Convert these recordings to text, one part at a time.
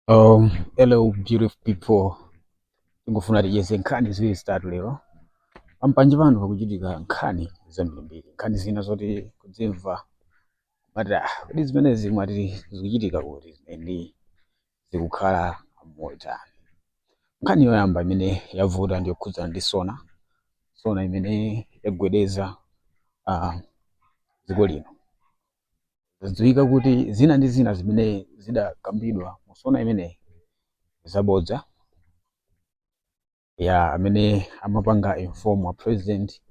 Um, hello beautiful people. Ndikufuna ticheze nkhani ziwiri zitatu lero. Pampanje pano pakuchitika nkhani zambirimbiri. Nkhani zina zoti kudzimva umati ah, kodi zimenezi mwati zikuchitika kuti ndi zikukhala motani. Nkhani yoyamba imene yavuta ndi yokhudzana ndi sona, sona imene yagwedeza uh, dziko lino. Zadziwika kuti zina ndi zina zimene zidakambidwa mu sona imeneyi zabodza ya amene amapanga inform a president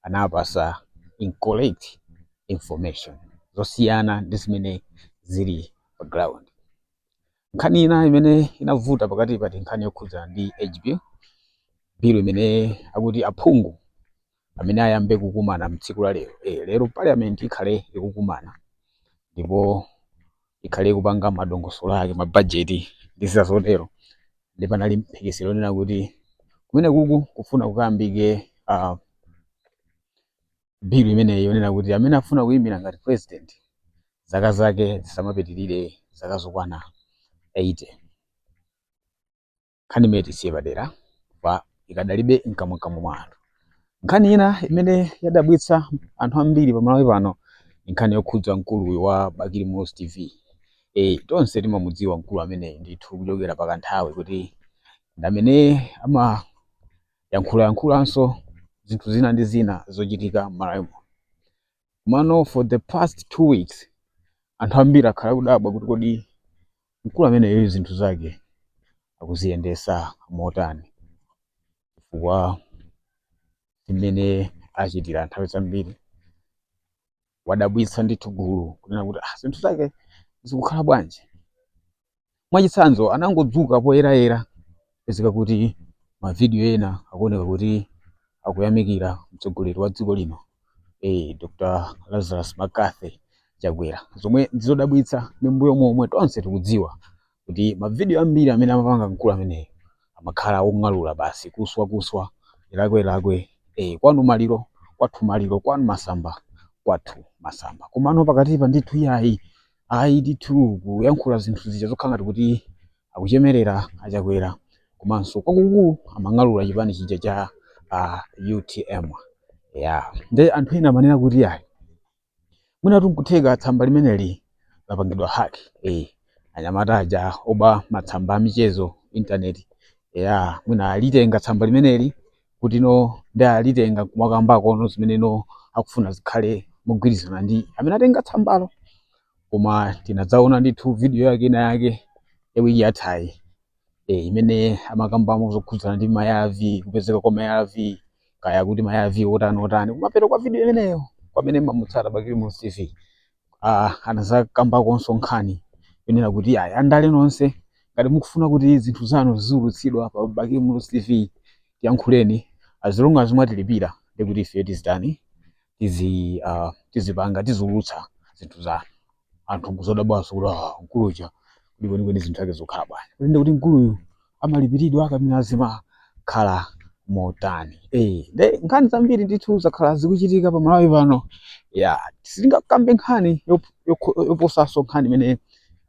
anawapatsa incorrect information zosiyana ndi zimene zili pa ground nkhani ina imene inavuta pakatipa ndi nkhani yokhudzana ndi age bill imene akuti aphungu amene ayambe kukumana mtsiku la lero eh, lero parliament ikhale ikukumana ndipo ikhale ikupanga madongosolo ake mabajeti ndi zina zotero nde panali mphekesera yonena kuti kumeneku kukufuna kukayambike uh, bill imeneyi yonena kuti amene afuna kuyimira ngati president zaka zake zisamapitirire zaka zokwana 80 nkhani imeneyi tiisiye padera apa ikadalibe mkamwamkamwa mwa anthu nkhani ina imene yadabwitsa anthu ambiri pa malawi pano ndi nkhani yokhudza mkuluyu wa bakili muluzi tv e, tonse timamudziwa mkulu ameneyi ndithu kuchokera pa kanthawi kuti ndi amene amayankhulayankhulanso zinthu zina ndi zina zochitika m'malawi muno Komano for the past two weeks anthu ambiri akhala akudabwa kuti kodi mkulu ameneyoyu zinthu zake akuziyendesa motani chifukwa zimene achitira nthawi zambiri wadabwitsa ndithu gulu kunena kuti ah, zinthu zake zikukhala bwanji mwachitsanzo anangodzuka poyerayera pezeka kuti mavidiyo ena akuoneka kuti akuyamikira mtsogoleri wa dziko lino eh, dr lazarus mccarthy chakwera zomwe ndizodabwitsa ndi m'mbuyomu momwe tonse tikudziwa kuti mavidiyo ambiri amene amapanga mkulu ameneyo amakhala ong'alula basi kuswa kuswa ilakwe lakwe eh, kwanu maliro kwathu maliro kwanu masamba kwathu masamba komano pakatipa ndithu iyayi ayi ndithu kuyankhula zinthu zija zokhala ngati kuti akuchemerera achakwera komanso kwakukulu amang'alula chipani chija cha uh, utm ya nde anthu ena amanena kuti ayi mwinatu nkutheka tsamba limeneli lapangidwa hack eh anyamata aja oba matsamba a michezo intaneti aja mwina alitenga tsamba limeneli kuti no nde alitenga kumakambako no zimene inu mukufuna zikhale mogwirizana ndi amene atenga tsambalo koma tinadzaona ndithu video yake ina yake ya wiki yathayi e, imene amakambamo zokhudzana ndi mayavi kupezeka kwa mayavi kaya kuti mayavi otani otani kumapeto kwa video imeneyo kwamene mamutsata bakili muluzi tv ah, anazakambakonso nkhani yonena kuti ayi andale nonse ngati mukufuna kuti zinthu zanu ziziwulutsidwa pa Bakili Muluzi TV tiyankhuleni as long as mwatilipira nde kuti ife tizitani tizi ah, tizipanga tiziwulutsa zinthu zanu anthu nkudzodabwanso kuti ah, mkulu uja kuti kwenikweni zinthu zake zikukhala bwanji kuti nde kuti mkuluyu amalipiridwa kapena zimakhala motani eh nde nkhani zambiri ndithu zakhala zikuchitika pa malawi pano ya sitingakambe nkhani yop- yokho- yoposanso nkhani imene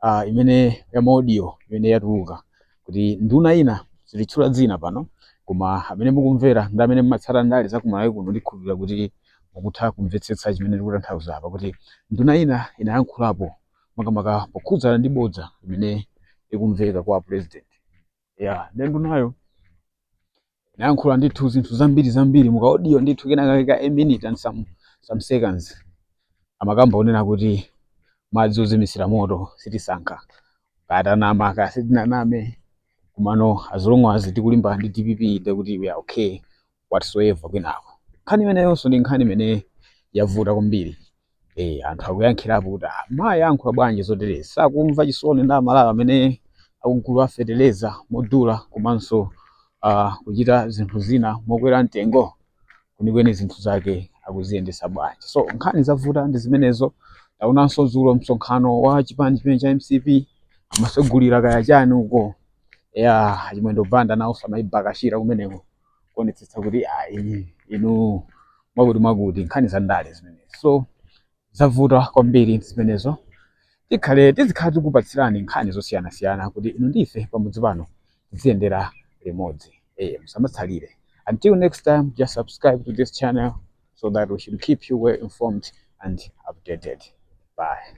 ah, imene ya maudio imene yatuluka kuti nduna ina sititchula dzina pano koma amene mukumvera ndi amene mumatsata ndale za kumalawi kuno ndikhulupirira kuti mukutha kumvetsetsa chimene ndikutanthauza apa kuti nduna ina inayankhulapo makamaka pokhudzana ndi bodza limene likumveka kwa president ya nde ndunayo inayankhula ndithu zinthu zambiri zambiri mukaodiyo ndithu kenakake ka a minute and some, some seconds amakamba zonena kuti madzi ozimisira moto sitisankha kaya tanama kaya sitinaname komano as long as tikulimbana ndi dpp ndekuti we are okay whatever kwinako nkhani imeneyonso ndi nkhani imene yavuta kwambiri eh anthu akuyankhulapo kuti "Ah, mayi ayankhula bwanji zoterezi sakumva chisoni ndi amalawi amene akugula feteleza modula komanso ah, kuchita zinthu zina mokwera mtengo kwenikweni zinthu zake akuziyendetsa bwanji so nkhani zavuta ndi zimenezo taonanso dzulo msonkhano wa chipani chimene cha mcp amasegulira kaya chani uko ya chimwendo banda nawo samaibakashira kumeneko kuonetsetsa kuti ayi inu mwakuti mwakuti nkhani za ndale zimenezi so zavuta kwambiri zimenezo tikhale tizikhala tikupatsirani nkhani zosiyanasiyana kuti inu ndi ife pamodzi pano tiziyendera limodzi eh musamatsalire until next time just subscribe to this channel so that we should keep you well informed and updated bye